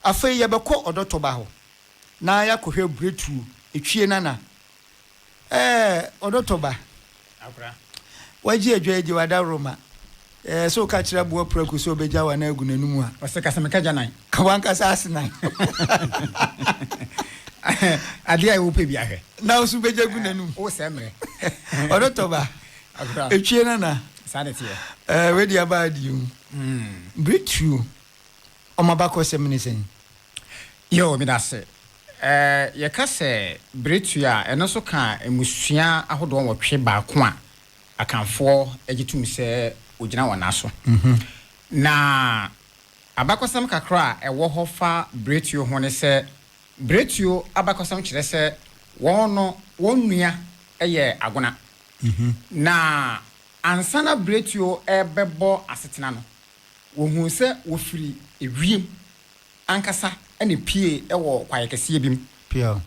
Afei yɛbɛkɔ ɔdɔtɔba hɔ na yɛakɔhwɛ Bretuo. Etwie Nana, Ɛɛ, ɔdɔtɔba, wagye adwa agye w'adaworoma. Ɛɛ, sɛ woka kyerɛ aboa prako sɛ ɔbɛgya wo anan agu n'anom a. Ɔse, Ka sɛ meka gya nan. Ka w'ankasa ase nan. Adeɛ a wopɛ biara hwɛ. Na wo nso bɛgya gu n'anom. Wo sɛ mmerɛ. Ɔdɔtɔba, Etwie Nana, Saa na ɛteɛ. Ɛɛ, wei deɛ abaa deɛ o. Bretuo. Wɔn abakɔsɛm ne sɛn? Yoo, meda ase. Eh, yɛka sɛ Beretua a, ɛno nso ka mmusua ahodoɔ nwɔtwe baako a Akanfoɔ gye tom sɛ wɔgyina wɔn nan so. Na abakɔsɛm kakra a ɛwɔ hɔ fa Beretuo ho ne sɛ, Beretuo abakɔsɛm kyerɛ sɛ wɔn no wɔn nua yɛ Agona. Na ansa na Beretuo rebɛbɔ asetena no, Wɔhuu sɛ wɔfiri ewiem ankasa na epuee wɔ kwaeɛ kɛseɛ bi mu,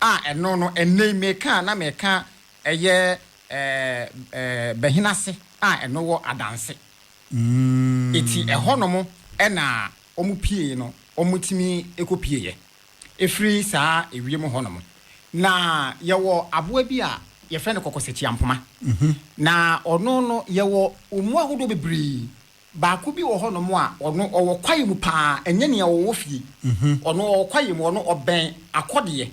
a ɛno no, ɛnnɛ yi mereka a na mereka ɛyɛ Bɛhena Ase a ɛno wɔ Adanse. Enti ɛhɔnom na wɔpuee no, wɔtumi kɔpueeɛ firi saa ewiem hɔnom. Na yɛwɔ aboa bi a yɛfrɛ no kɔkɔsakyiampoma. Na ɔno no, yɛwɔ wɔn mu ahodoɔ bebree Baako bi wɔ hɔnom a, ɔno ɔwɔ kwae mu paa, ɛnyɛ nea ɔwɔ fie. Ɔno ɔwɔ kwae mu, ɔno ɔbɛn akɔdeɛ,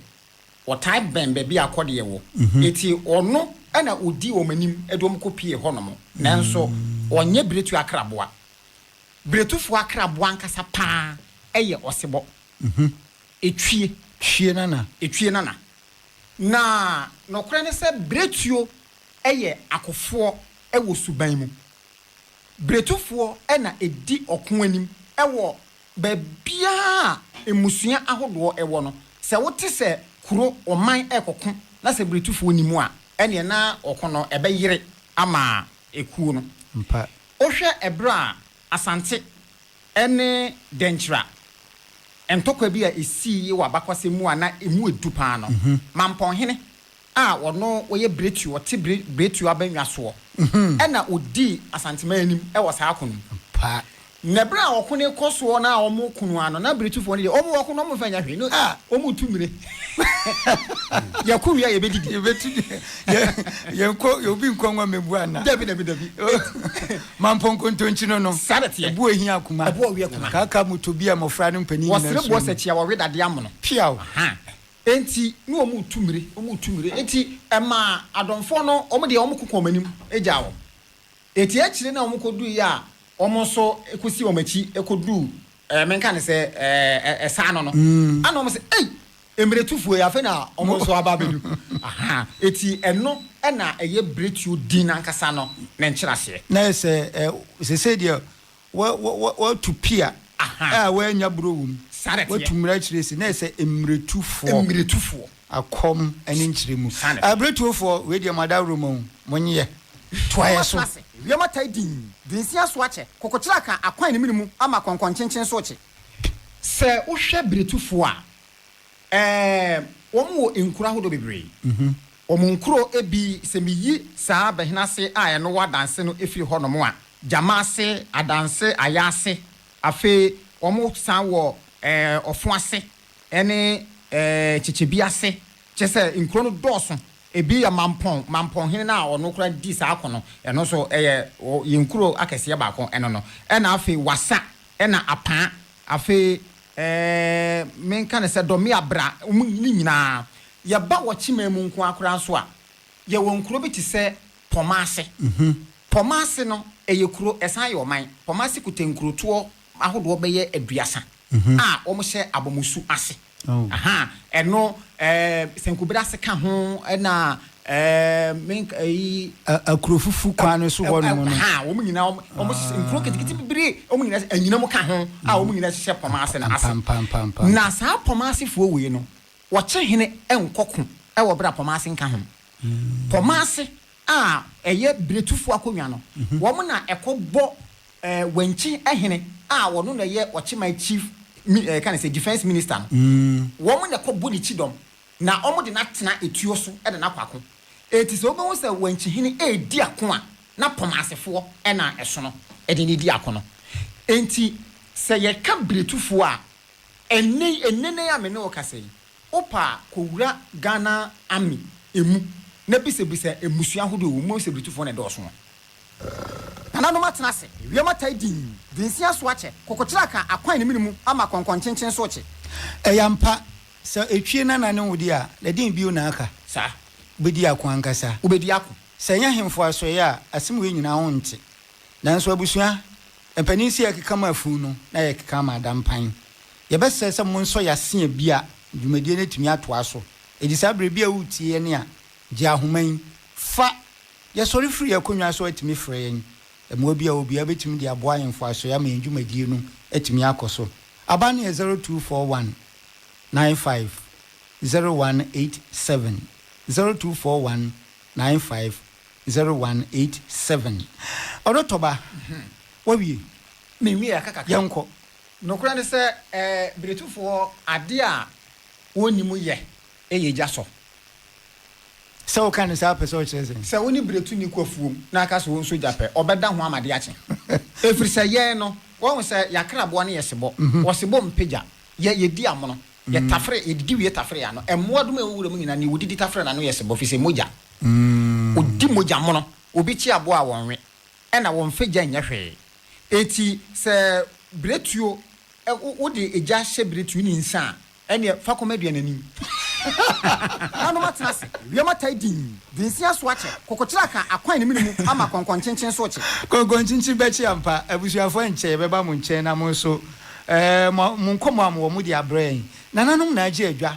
ɔtaa bɛn baabi a akɔdeɛ wɔ. Enti ɔno na ɔdi wɔn anim de wɔn kɔpue hɔnom. Nanso ɔnyɛ biretuo akraboa. Biretufoɔ akraboa ankasa paa yɛ ɔsebɔ. Ɛtwie. Twie nana. Ɛtwie nana. Na nokorɛ ne sɛ biretuo yɛ akofoɔ wɔ suban mu. Bretofoɔ na ɛdi ɔko anim wɔ baabiara a mmusua ahodoɔ wɔ no. Sɛ wote sɛ kuro, ɔman rekɔko na sɛ Bretofoɔ nni mu a, ɛnneɛ na ɔko no ɛbɛyere ama ekuo no. Ampa. Wohwɛ ɛberɛ a Asante ne Dɛnkyira ntɔkwa bi a ɛsiiɛ wɔ abakɔsɛm mu a na ɛmu yɛ du pa ara no, Mampɔnhene, a ɔno ɔyɛ Bretio, ɔte Bre, Bretio abannwa soɔ, ɛna ɔdii Asanteman anim wɔ saa ko no mu. Ampa. Na ɛberɛ a ɔko no rekɔ soɔ na wɔreko no ara no, na Bretofoɔ no deɛ, wɔn ɔko no wɔn mfa nyɛ hwee. No, ah, wɔn retu mmire. Yɛko wie a yɛbɛdidi. Yɛbɛtu deɛ, yɛ, yɛnkɔ, yɛ obi nkɔ nwa mmɛbu anaa? Dabi, dabi, dabi. Enti. Mampɔ nkontonkyi no no. Saa na ɛteɛ. Ɛbo a ɛhia akoma. Ɛbo a ɔwe akoma. Kaaka motɔ bi a mmɔfra ne mpanin nyinaa suro mu. Wɔsere boɔ sɛ kyi a wɔwe dadeɛ amono. Piaw. Aha. Enti ne wɔn retu mmire, wɔn retu mmire. Enti ɛmaa Adomfoɔ no, wɔn deɛ wɔko kɔɔ wɔn anim gyaa wɔn. Enti akyire na wɔkɔduruiɛ a wɔn nso kɔsii wɔn akyi kɔduruu, ɛɛ, menka no sɛ, ɛɛ, ɛsa ano no, ɛna wɔn sɛ, Ei! Mmiretufoɔ yi, afei na wɔn nso aba abɛdu. Aha! Enti ɛno na ɛyɛ biretuo din no ankasa no ne nkyerɛaseɛ. Na ayɛ sɛ, ɛɛ, seesei deɛ Watu pea a wannya buro wom. Watu mmira akyiri asi na ayɛ sɛ mmiretufoɔ. Akɔm ne nkyerɛ mu. Abiretuofoɔ, wei deɛ mo adaworo ma o, monyɛ. Toa yɛ so. Wiem atai dinn. Dunsia so akyɛ. Kokokyere aka akwan ne mene mu ama kɔnkɔnkyenkyen so rekye. Sɛ wohwɛ biretufoɔ a. Ɛɛ, wɔwɔ nkuro ahodoɔ bebree. Wɔn nkuro bi, sɛ meyi saa Bɛhenase a ɛno wɔ Adanse no firi hɔnom a, Gyamaase, Adanse, Ayaase, afei wɔsan wɔ ɛɛ Ɔfoase ne ɛɛ Kyekyebiase. Kyerɛ sɛ, nkuro no dɔɔso. Ebi yɛ Mampɔn, Mampɔnhene no a ɔno koraa di saa ko no, ɛno nso ɛyɛ yɛn kuro akɛseɛ baako, ɛno no. Ɛna afei Wasa, Ɛna apaa afei ɛɛ me nka no sɛ dɔmea bra ɔmo ne nyinaa yɛ ba wɔ kyeman mu nkoaa koraa nso a yɛ wɔ nkuro bi te sɛ pɔmaase pɔmaase no ɛyɛ kuro ɛsan yɛ ɔman pɔmaase kuta nkurotoɔ ahodoɔ bɛyɛ aduasa a ɔmo hyɛ abɔmosu ase. Ahaa ɛno ɛɛ sankubere ase ka ho ɛna ɛɛ me nka ɛyi. Akurofufu kwan no so hɔ nom no. Ahaa wɔn nyinaa wɔn wɔn hyehyɛ nkuro ketekete bebree wɔn nyinaa hyehyɛ anyinam ka ho a wɔn nyinaa hyehyɛ Pɔmaase no ase. Ampampampampam. Na saa Pɔmaasefoɔ wei no wɔkye hene nkɔ ko ɛwɔ bere a Pɔmaase nka ho. Pɔmaase a ɛyɛ biretufo akonnwa no, wɔn na ɛkɔ bɔ Wankye hene a ɔno na ɛyɛ ɔkyeman chief ɛka ne sɛ defense minister no, wɔn na ɛkɔ bɔ ne kyidɔm na wɔn de no atena etuo so de no akɔ ako. Enti sɛ wobɛhu sɛ Wankye hene redi ako a, na Pomasefoɔ na ɛsono de no di ako no. Enti sɛ yɛka biretufoɔ a, ɛnnɛ yi, nnɛnnɛ yi a me ne wo kasa yi, Wopɛ a kɔwura Ghana Army mu na bisabisa mmusua ahodoɔ a ɛwɔ mu, wobɛhu sɛ Britufoɔ na ɛdɔɔso no. Nananom atena ase, ewiem atae dinn, Densin aso akyɛ, kokokyere aka akwan ne mene mu ama kɔnkɔnkyenkyen so rekye. Ɛyɛ ampa, sɛ etwie nana ne wode a, na deen bio na aka? Saa. Wobɛdi ako ankasa. Wobɛdi ako. Sɛ ɛnyɛ ahemfo asoɛeɛ a, asem wei nyinaa wo nte. Nanso abusua mpanin sei a ɛkeka maa funu no, na yɛkeka ama adampan. Yɛbɛsɛ sɛ monsɔ yɛn ase a bi a dwumadie no atumi atoa so. Edi saa berɛ bi a woretie yɛn a, gye ahoma yi, fa, Yɛsɔre firi yɛn akonnwa so atumi frɛ yɛn. Mmoa bi a obiara bɛtumi de aboa yɛn mfasoɔ ama yɛn dwumadie no atumi akɔ so. Aban no yɛ 0241 95 0187, 0241 95 0187. Ɔdɔtɔba, woawie? Menwieɛ, yɛnkɔ. Nokorɛ ne sɛ, Britufoɔ, adeɛ a wɔnni mu yɛ yɛ gya sɔ. Sɛ woka no saa a, wopɛ sɛ wokyerɛ sɛn? Sɛ wo ne Britu nni ko afuom na woka sɛ wɔnso gya pɛ, wɔbɛda ho ama de akye. Ɛfiri sɛ yɛn no, wɔahu sɛ yɛn akraboa no yɛ sebɔ, ɔsebɔ mpɛ gya, yɛ, yɛdi amono, yɛtafere, yɛdidi wie tafere yɛn ano. Mmoadoma a ɛwɔ wuram nyinaa, deɛ wɔdidi tafere n'ano yɛ sebɔ, ɛfiri sɛ mogya. Wɔdi mogya mono. Obi kye aboa a, wɔnwe. na wɔn mfa gya nyɛ hwee. Enti sɛ biretuo, wo, wode gya hyɛ biretuo no nsa a, ɛnneɛ fa kɔma aduanani. Nanom atena ase, ewiem atai dinn, densia so akyɛ, kokokyere aka akwan ne mene mu ama kɔnkɔnkyenkyen so rekye. Kɔnkɔnkyenkyen bɛkye ampa. Abusuafoɔ ɛnkyɛ yɛbɛba mo nkyɛn na mo nso, eh, mo, monkɔmmɔ a mowɔ mo de abrɛ yɛn. Nananom na agye adwa.